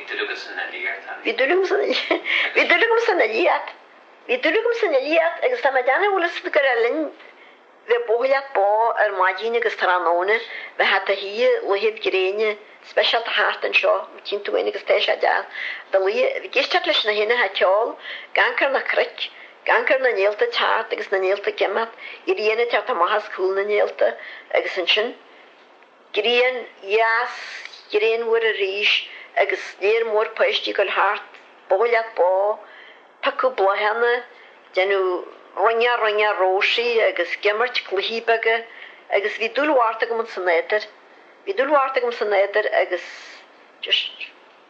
Bhí dúil agam san fhilíocht, bhí dúil agam san fhilíocht agus tá mé ag déanamh, bhfuil fhios gur le linn bheith ag buachailleacht ba ar maidin agus tráthnóna bheifeá i do shuí laethe gréine speisialta thart anseo mar tchíonn tú fhéin agus tá sé deas i do luí ag éisteacht leis na héanacha ag ceol ag amhanc ar na cnoic ag amhanc ar na néalta ag teacht agus na néalta ag imeacht an ghrian ag teacht amach as cúl na néalta agus ansin Grian dheas, ghrian mhuir arís agus léir mór paoistí ag dul thart, bó leat bó, picadh bláthanna, deineadh roinneadh roinneadh róisí agus geimirt cluichí beaga agus bhí dúil mhairt agam san éadair, bhí dúil mhairt agam san éadair agus just.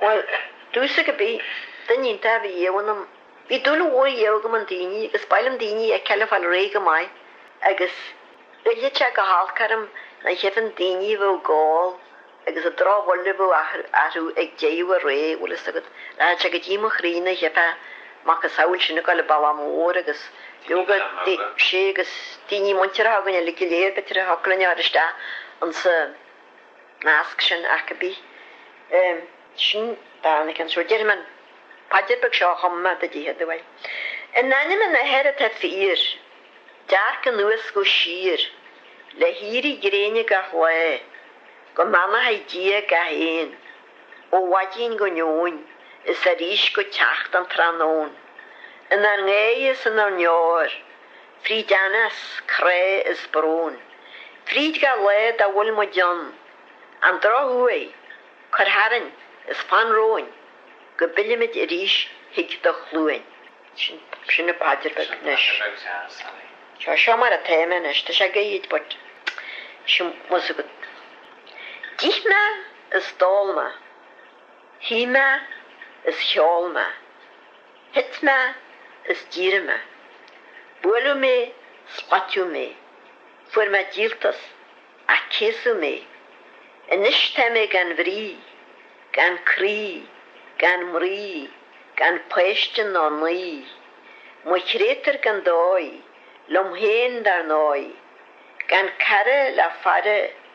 Bhuel, i dtús cibith, duine iontach a bhí ariamh ionam. Bhí dúil mhór ariamh agam in daoine agus ba mhaith liom daoine a fheiceáil ag fáil réidh go maith agus ghoilleadh sé go holc orm nuair a chífinn daoine a bheadh ag ól agus an drochbhail a bheadh orthu ag deireadh a ré, bhfuil fhios agat, rachadh sé go dtí mo chroí nuair a chífeá macasamhail sin ag gabháil an bealach mór agus leoga sé agus daoine muinteartha againn uilig go léir b'fhéidir a thiocfadh linn a chur isteach insa measc sin cibith. Sin dán, an ceann seo déarfaidh mé an paidir beag seo a chum mé do dtithe do bhail. In ainm an Athar atá fíor, dearc anuas go síor, le héirí gréine gach lá, go mbeannaí Dia gach aon, ó mhaidin go neoin is arís go teacht an tráthnóin, inár ngáire is inár ndeor, fríd theannas, crá is brón, fríd gach lá dá bhfuil muid ann, an drochuair, cuir tharainn is fan romhainn go bpillimid arís chuig do Chluain. Sin an phaidir beag anois. Seo mar atá mé anois, tá sé gairid but sin bhfuil fhios agat. D'ith mé is d'ól mé, shuigh mé is cheol mé. Thit mé is d'éirigh mé. Buaileadh mé 's b'aitiúil mé. Fuair mé díoltas ach céasadh mé. Anois tá mé gan bhrí, gan croí, gan mnaoi, gan pháiste ná naí, mo chréatúr gan dóigh, liom féin dar ndóigh, gan cara le faire,